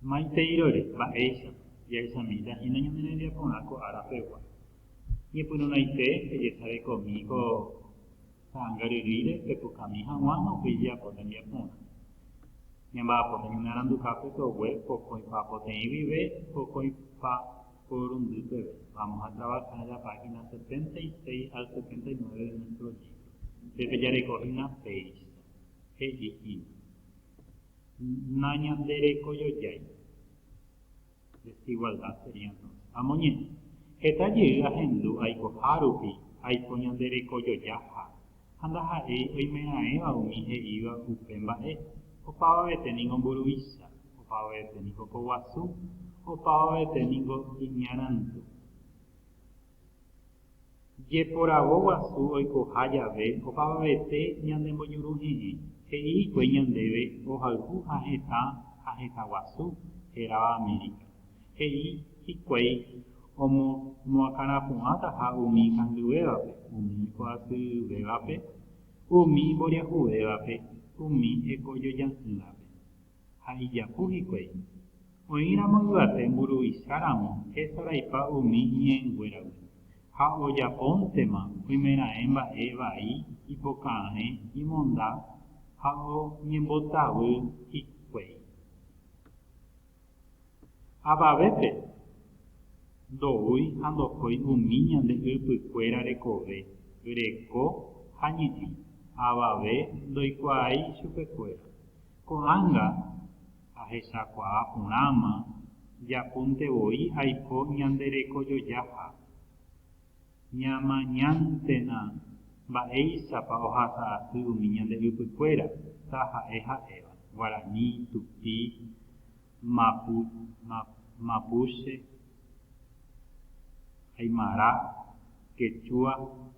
Maiteirory, mba'éichapa? Jahechamíta hína ñane rembiaporã ko ára pegua. Ñepyrũraite pejesarekomi ko ta'anga ryrýire pepukami haguã ha upéi jeapo tembiaporã. Ñamba'apóta ñane aranduka pe togue pokõipa poteĩ guive, pokõipa porundy peve. Vamos a trabajar la página 76 al 79 de nuestro libro. Pe pejareko hína péicha, he'i hína. Nañanderekojojái. Desigualdad sería entonces. Amoñe'ẽ. Heta jey ahendu aikoha rupi aiko ñanderekojojaha, ha ndaha'éi oimeraẽva umi he'íva upe mba'e, opavavete ningo mburuvicha, opavavete ningo ko guasu, opavavete ningo iñarandu. Jeporavo guasu oikoha jave opavavete ñane mbojuru heẽ, he'i hikuái ñandéve mbohayhu ha hetã ha hetã guasu heráva Amérika. He'i hikuái omoakãrapu'ãtaha umi kangyvévape, umi ko'asyryvévape, umi mboriahuvévape, umi ekojoja'ỹvape. ha ijapu hikuái. Oĩramo yvate mburuvicha ramo hesaraipa umi ñe'ẽnguéragui, ha ojapóntema oimeraẽ mba'e vai ipoka'arẽ imonda ha oñembotavy hikuái. Avavépe, ndoúi ha ndokói umi ñande ypykuéra rekove, reko ha ñe'ẽ, avave ndoikuaái chupekuéra. Ko'ág̃a ahechakuaa porãma japúnte voi aiko ñande rekojojaha. Ñamañántena mba'éichapa ohasa asy umi ñande ypykuéra, taha'e ha'éva, guarani, tupi, mapuche, aymara, kechua,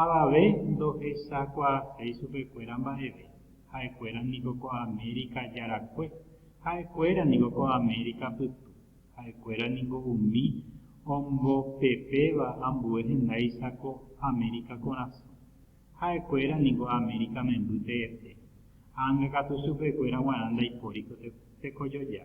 Avave ndohechakuaaséi chupekuéra mba'eve, ha'ekuéra niko ko Amérika jarakue, ha'ekuéra niko ko Amérika pytu, ha'ekuéra niko umi ombopepéva ambue hendáicha ko Amérika korasõ, ha'ekuéra niko Amérika memby teete, ág̃akatu chupekuéra guarã ndaipóri ko tekojoja.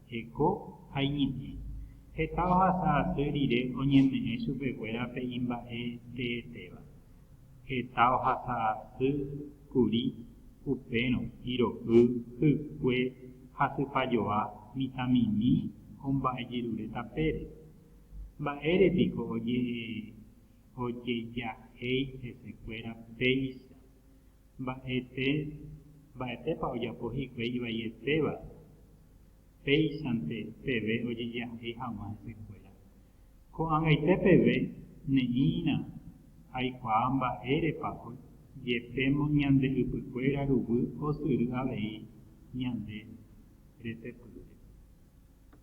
Heko ha iñe'ẽ. Heta ohasa asy rire oñeme'ẽ chupekuéra pe imba'e teetéva. Heta ohasa asy kuri upérõ hiro'y, hykue, hasypajoa, mitãmimi o mba'e jerure tapére. Mba'ére piko ojejahéi hesekuéra péicha? Mba'ete, mba'etépa ojapo hikuái ivaietéva péichante peve ojejahai hag̃ua hesekuéra. Ko'ag̃aite peve ne'ĩrã aikuaa mba'érepa ojepémo ñande ypykuéra ruguy osyry avei ñande retepýre.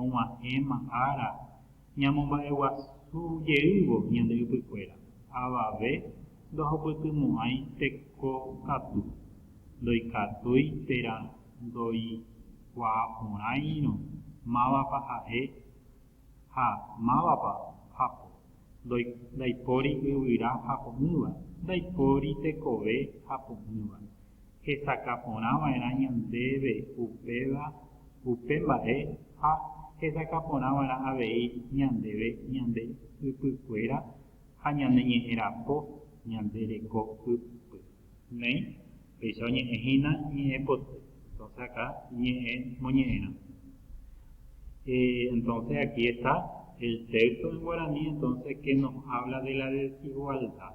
og̃uahẽma ára ñamomba'eguasu jeývo ñande ypykuéra, avave ndohupytymo'ãi teko katu, ndoikatúi térã ndoikuaaporãirõ mávapa ha'e ha mávapa japo, ndaipóri yvyra japo'ỹva, ndaipóri tekove japo'ỹva. hesakã porã va'erã ñandéve upéva upe mba'e ha hesakã porã va'erã avei ñandéve ñande ypykuéra ha ñane ñe'ẽ rapo ñande reko ypy. Néi, péicha oñe'ẽ hína ñe'ẽ poty, entonce aka ñe'ẽ moñe'ẽrã. Entonce aquí está el texto en guaraní, entonce que nos habla de la desigualdad.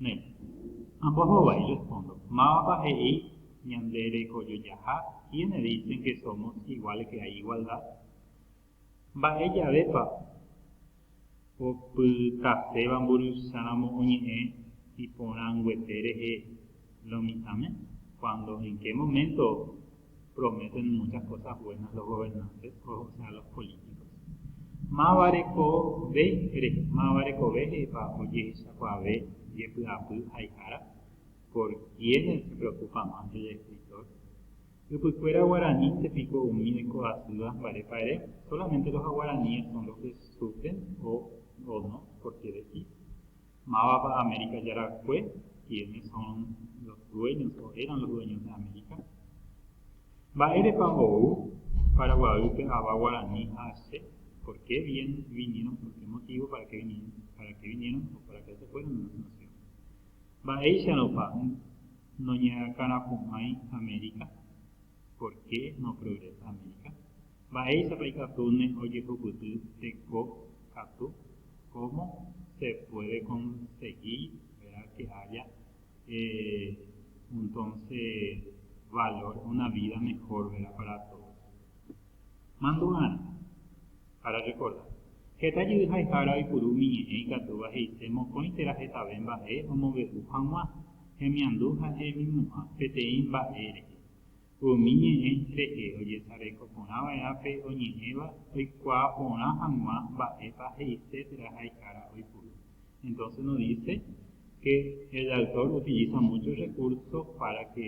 Ne. Amboho vai respondo, mávapa he'i ñande rekojojaha quiénes dicen que somos iguales que hay igualdad? Mba'e javépa opytaséva mburuvicháramo oñe'ẽ iporãnguete rehe lo mitãme? Cuando, en qué momento? prometen muchas cosas buenas los gobernantes, o sea, los políticos. Máva rekove, máva rekove he'ipa ojehechakuaave jepy'apy haihára, por quiénes se preocupa más el escritor. Ypykuéra guaranínte piko umi oiko asýva mbarépa ere, solamente los aguaraníes son los que sufren o, o no, por qué decís. Mávapa Amérika Jarakue? Quiénes son los dueños o eran los dueños de América? Mba'érepa ou Paraguaýpe ava guarani ha che? Por qué vien, vinieron? Por qué motivo? Para qué vinieron? Para qué vinieron o para qué se fueron de nuestra nación? Mba'éicharopa noñakãrapu'ãi Amérika? Por qué no progresa América? Mba'éichapa ikatúne ojehupyty teko katu? Cómo se puede conseguir vera que haya eh untonse valor una vida mejor vera para todos? Mandu'arã Ararekorda, Heta jey haihára oipuru umi ñe'ẽ ikatúva he'ise mokõi térã hetave mba'e omombe'u hag̃ua, hemiandu ha hemimo'ã peteĩ mba'e rehe. Umi ñe'ẽ rehe ojesareko porã va'erã pe oñe'ẽva oikuaa porã hag̃ua mba'épa he'ise térã haihára oipuru. Entonces nos dice que el autor utiliza muchos recursos para que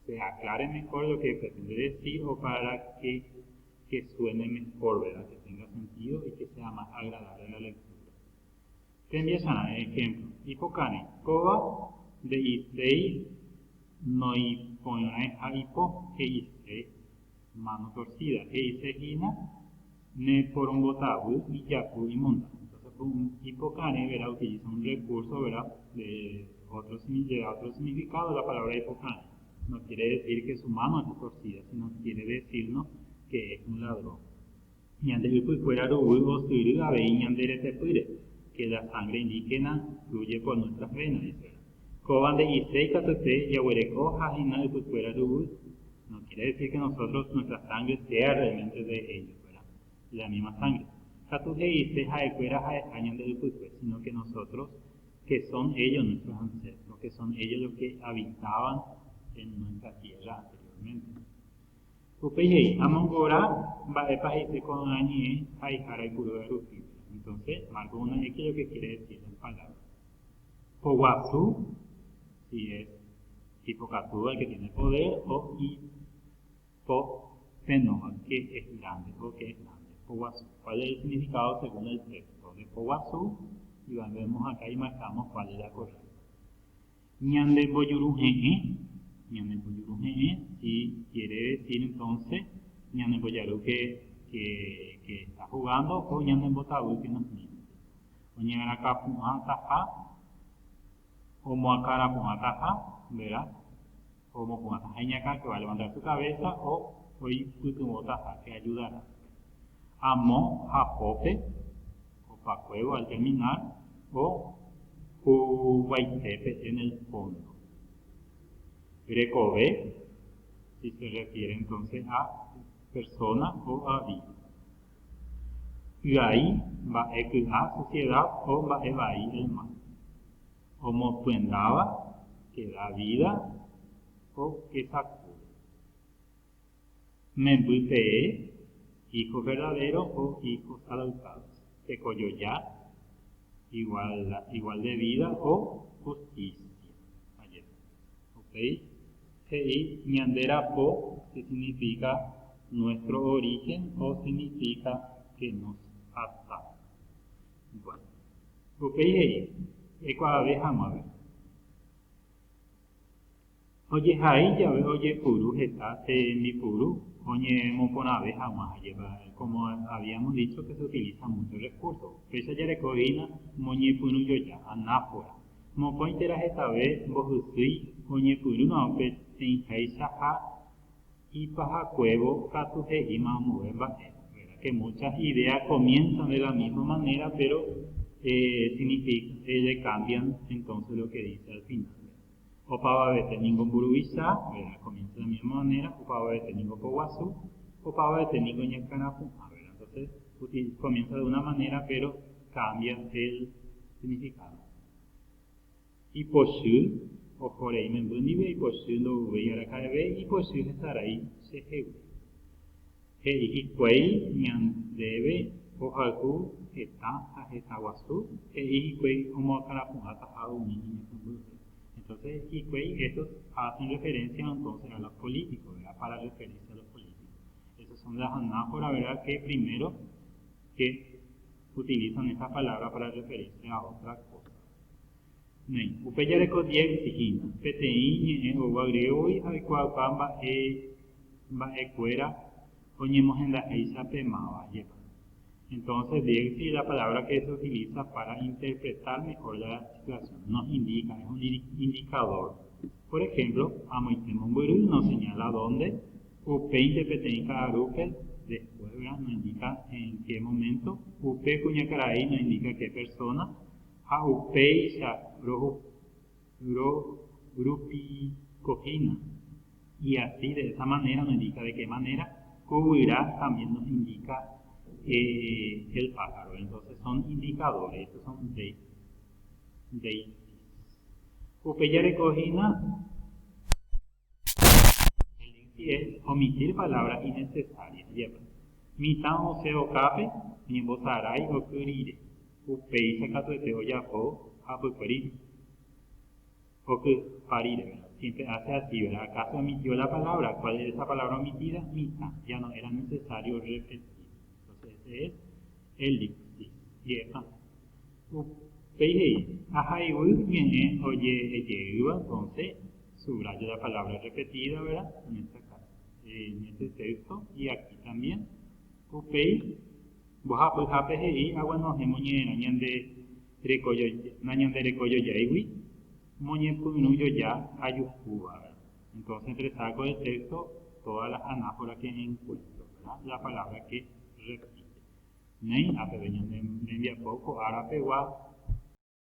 se aclare mejor lo que pretende decir o para que que suene mejor, verá, que tenga sentido y que sea más agradable la lectura. Tembiasara'e ejemplo, Ipokãri, kóva nde'iséi noĩporãiha ipo, he'ise mano torcida, he'ise hína ne porombotavy ijapu imonda. Entonces, un ipokãri, verá, utiliza un recurso, verá, de otro, de otro significado de la palabra ipokãri. No quiere decir que su mano es torcida, sino que quiere decirnos que es un ladrón. Ñande ypykuéra ruguy osyry avei ñande retepýre, que la sangre indígena fluye por nuestras venas, dice. Kóva nde'ise ikatute jaguereko ha hina ypykuéra ruguy, no quiere decir que nosotros nuestra sangre sea realmente de ellos, ¿verdad? La misma sangre. Katu he'ise ha'ekuéra ha'eha ñande ypykue, sino que nosotros que son ellos nuestros ancestros, que son ellos los que habitaban en nuestra tierra anteriormente. Upéi he'i, amongora mba'épa he'ise ko'ã ñe'ẽ ha'ehára ipurúva rupi. Entonces, Marcos 1.x lo que quiere decir la palabra. Poguasu, si es ipokatúva el que tiene poder, o i, Ko pénova, que es grande o que es grande, poguasu. Cuál es el significado según el texto? De poguasu, y vemos acá y marcamos cuál es la correcta. Ñande mbojuru he'ẽ, ñande mbojuru he'ẽ, si quiere decir entonces, ñande mbojaru que, que, que está jugando o ñande mbotavy que nos mira. Oñe'arakapu'ãtaha, omoakarapu'ãtaha, ¿verdad? o mopu'ãta ha iñakã que va a levantar su cabeza o oipytyvõta hápe ayuda rápido. Amo hapópe opakuévo al terminar o huguaitépe en el fondo. Rekove si se refiere entonces a persona o a vida. Py'ai mba'e ky'a sociedad o mba'e vai el mar. Omosyendáva che da vída ko kesakúre. Memby pee hijos verdaderos o hijos adoptados, tekojoja igual de vida o justicia. Ajépa. Upéi he'i ñande rapo que significa nuestro origen o significa que nos adoptaron. Hikuái. Upéi he'i, Ekuaave hag̃uágui. Ojehai jave ojepuru heta tembipuru oñemoporãve hag̃ua ajépa, como habíamos dicho que se utiliza mucho el recurso. Péicha jareko hína moñepyrũjoja, anáfora. Mokõi térã hetave mbohysýi oñepyrũrõ peteĩháicha ha Ipahakuévo katu he'íma ambue mba'e, ¿verdad? Que muchas ideas comienzan de la misma manera, pero significa, cambian entonces lo que dice al final. Opavavete ningo mburuvicha, ¿verdad? Comienza de la misma manera, opavavete ningo poguasu, opavavete ningo ñakãrapu'ã, ¿verdad? Entonces, comienza de una manera, pero cambia el significado. Ipochy, oho rei memby ndive ipochy ndovyvéi araka'eve ipochy hesarái chehegui. He'i hikuái ñandéve ohayhu heta ha heta guasu, he'i hikuái omoakãrapu'ãtaha umi iñakãmbype. Entonces hikuái estos hacen referencia entonces a los políticos, ¿verdad? Para referirse a los políticos. Esos son las anáforas, ¿verdad? Que primero que utilizan esta palabra para referirse a otra cosa. Néi. Upe jareko diéxis hína, peteĩ ñe'ẽ oúva griégogui ha oikuaauka mba'e mba'e kuéra oñemohendahéicha pe máva jepa. Entonces, diéxis la palabra que se utiliza para interpretar mejor la situación, nos indica, es un indicador. Por ejemplo, amoite mombyry nos señala dónde, upéinte peteĩ ka'arúpe, después, verdad, nos indica en qué momento, upe kuñakarai nos indica qué persona, ha upéicha rohupytykohína y asi de esa manera no indica de que manera ko guyra también nos indica el pájaro entonces son indicadores estos son indicios upe jarekohína Elencie omitir palabra innecesaria jepa. Mitã osẽ okápe ñembosarái oky rire, upéicha katuete ojapo hapykue rire. Okypa rire, ¿verdad? Siempre hace así, ¿verdad? Acaso omitió la palabra? ¿Cuál es esa palabra omitida? Mitã, ya no era necesario repetir. Entonces, ese es elencie jepa. Upéi he'i, Ahayhu ñe'ẽ oje'ejeýva, konsé, subraya la palabra irrepetida, vera, en esta caso, en este texto y aquí también, upéi mbohapyhápe he'i aguenohẽmo ñe'ẽrõ ñande reko joja, nañandereko jojaigui, moñepyrũ joja ajuhúva, vera. Entonces resaco del texto todas las anáforas que encuentro, la palabra que repite. Néi, ha peve ñane rembiapo ko ára pegua.